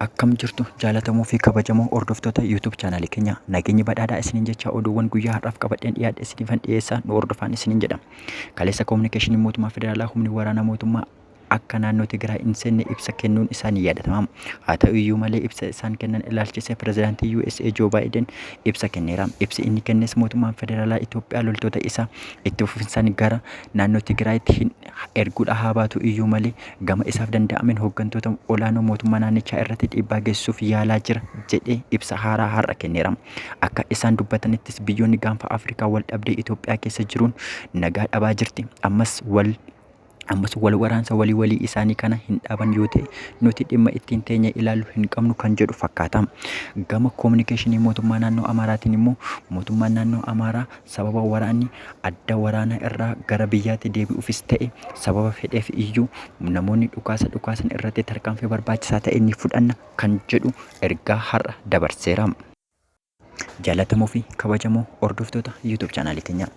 akkam jirtu jaalatamuu fi kabajamoo hordoftoota YouTube chaanaalii keenya nageenyi badhaadhaa isiniin jecha oduuwwan guyyaa har'aaf qabadheen dhiyaadhe isiniifan dhiyeessaa nu hordofaan isiniin jedha. Kaleessa koominikeeshiniin mootummaa federaalaa humni waraanaa mootummaa akka naannoo Tigraay hin seenne ibsa kennuun isaa ni yaadatama. Haa ta'u iyyuu malee ibsa isaan kennan ilaalchisee pirezidaantii USA Joo Baayiden ibsa kenneera. Ibsi inni kennes mootummaan federaalaa Itoophiyaa loltoota isaa itti fufinsaan gara naannoo Tigraayitti hin erguudha haa baatu iyyuu malee gama isaaf danda'ameen hooggantoota olaanoo mootummaa naannichaa irratti dhiibbaa geessisuuf yaalaa jira jedhee ibsa haaraa har'a kenneera. Akka isaan dubbatanittis biyyoonni gaanfa Afrikaa wal dhabdee Itoophiyaa keessa jiruun nagaa dhabaa jirti. Ammas wal ammas wal waraansa walii walii isaanii kana hin dhaaban yoo ta'e nuti dhimma ittiin teenya ilaallu hin qabnu kan jedhu fakkaata. Gama koominikeeshinii mootummaa naannoo Amaaraatiin immoo mootummaan naannoo Amaaraa sababa waraanni adda waraanaa irraa gara biyyaatti deebi'uufis ta'e sababa fedheef iyyuu namoonni dhukaasa dhukaasan irratti tarkaanfii barbaachisaa ta'e ni fudhanna kan jedhu ergaa har'a dabarseera. Jaalatamoo fi kabajamoo hordoftoota YouTube chaanaalii teenyaa.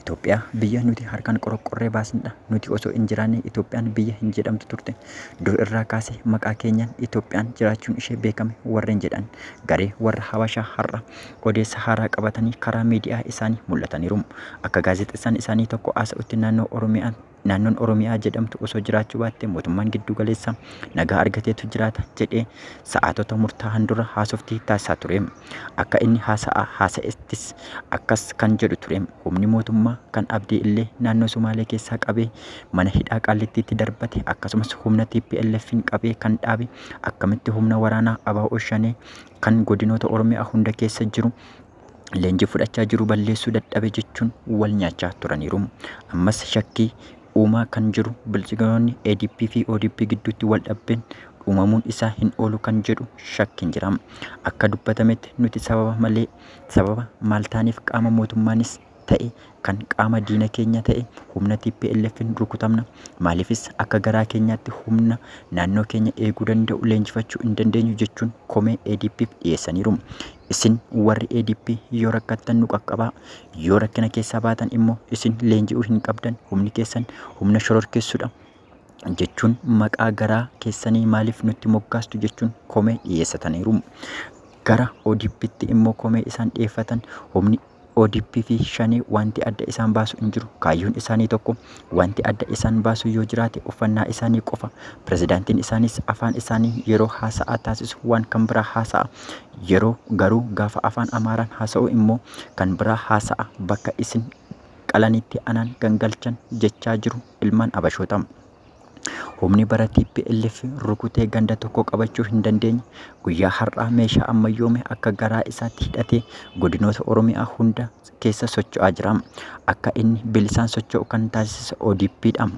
Itoophiyaa biyya nuti harkaan qoroqqorree baasnedha. Nuti osoo hin jiraanne Itoophiyaan biyya hin jedhamtu turte. Dur irraa kaasee maqaa keenyaan Itoophiyaan jiraachuun ishee beekame warreen jedhan garee warra Habashaa har'a odeessa haaraa qabatanii karaa miidiyaa isaanii mul'ataniiru. Akka gaazexessaan isaanii tokko haasa'utti naannoo Oromiyaa naannoon Oromiyaa jedhamtu osoo jiraachuu baatte mootummaan giddu galeessa nagaa argateetu jiraata jedhee sa'aatota murtaa'an dura haasofti taasisaa ture. Akka inni haasa'aa haasa'ettis akkas kan jedhu ture. Humni mootummaa kan abdii illee naannoo Sumaalee keessaa qabee mana hidhaa qaallittiitti darbate akkasumas humna TPLFin qabee kan dhaabe akkamitti humna waraanaa abaa oshanee kan godinoota Oromiyaa hunda keessa jiru leenjii fudhachaa jiru balleessuu dadhabe jechuun wal nyaachaa turaniiru. Ammas shakkii uumaa kan jiru bilchigaroonni ADP fi ODP gidduutti wal dhabbeen uumamuun isaa hin oolu kan jedhu shakkiin jira. Akka dubbatametti nuti sababa malee sababa maal taaneef qaama mootummaanis ta'e kan qaama diina keenya ta'e humna TPLFn rukutamna. Maaliifis akka garaa keenyaatti humna naannoo keenya eeguu danda'u leenjifachuu hin dandeenyu jechuun komee ADPf dhiyeessaniiru. Isin warri ADP yoo rakkattan nu qaqqabaa, yoo rakkina keessaa baatan immoo isin leenji'uu hin qabdan, humni keessan humna shororkeessudha jechuun maqaa garaa keessanii maaliif nutti moggaastu jechuun komee dhiyeessataniiru. Gara ODPtti immoo komee isaan dhiyeeffatan humni ODP fi Shanee wanti adda isaan baasu hin jiru. Kaayyoon isaanii tokko. Wanti adda isaan baasu yoo jiraate uffannaa isaanii qofa. Pirezidaantiin isaaniis afaan isaanii yeroo haasa'aa taasisu waan kan biraa haasa'a. Yeroo garuu gaafa afaan Amaaraan haasa'u immoo kan biraa haasa'a. Bakka isin qalanitti anaan gangalchan jechaa jiru ilmaan Abashoota. Humni bara TPLF rukutee ganda tokko qabachuu hin dandeenye guyyaa har'aa meeshaa ammayyoome akka garaa isaatti hidhatee godinoota Oromiyaa hunda keessa socho'aa jira. Akka inni bilisaan socho'u kan taasise ODPdha.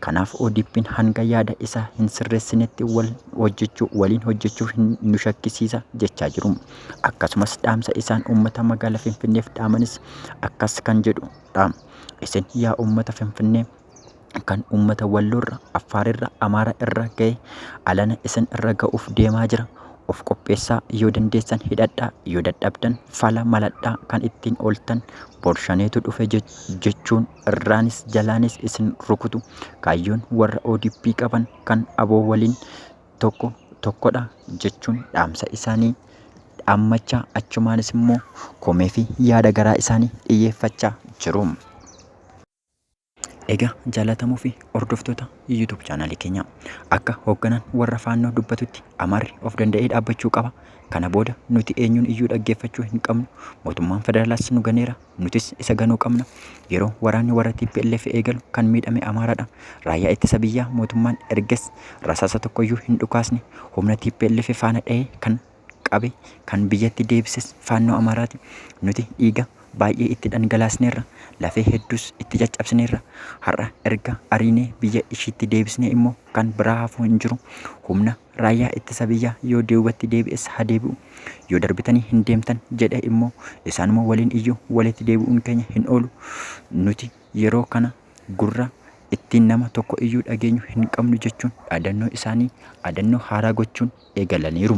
Kanaaf ODPn hanga yaada isaa hin sirreessinetti wal hojjechuu waliin hojjechuu hin nu shakkisiisa jechaa jiru. Akkasumas dhaamsa isaan uummata magaalaa Finfinneef dhaamanis akkas kan jedhudha. Isin yaa uummata Finfinnee kan uummata Walloo irra, Affaar irra, Amaara irra gahe alana isin irra ga'uuf deemaa jira. Of qopheessaa yoo dandeessan hidhadhaa yoo dadhabdan fala maladhaa kan ittiin ooltan borshaneetu dhufe je- jechuun irraanis jalaanis isin rukutu. Kaayyoon warra ODP qaban kan aboo waliin tokko tokkodha jechuun dhaamsa isaanii dhaammachaa achumaanis immoo komee fi yaada garaa isaanii dhiyyeeffachaa jiru. Egaa jaalatamoo fi hordoftoota YouTube chaanaalii keenyaa akka hoogganaan warra faannoo dubbatutti Amaarri of danda'ee dhaabbachuu qaba. Kana booda nuti eenyuun iyyuu dhaggeeffachuu hin qabnu. Mootummaan federaalaas nu ganeera. Nutis isa ganuu qabna. Yeroo waraanni warra TPLF eegalu kan miidhame Amaaradha. Raayyaa ittisa biyyaa mootummaan erges rasaasa tokkoyyuu hin dhukaasne. Humna TPLF faana dhahee kan qabe kan biyyatti deebises Faannoo Amaaraati. Nuti dhiiga baay'ee itti dhangalaasneerra, lafee hedduus itti caccabsineerra. Har'a erga ariinee biyya ishiitti deebisnee immoo kan biraa hafuu hin jiru. Humna raayyaa ittisa biyyaa yoo duubatti deebi'es haa deebi'u. Yoo darbitanii hin deemtan jedhe immoo isaanuma waliin iyyuu walitti deebi'uun keenya hin oolu. Nuti yeroo kana gurra ittiin nama tokko iyyuu dhageenyu hin qabnu jechuun dhaadannoo isaanii dhaadannoo haaraa gochuun eegalaniiru.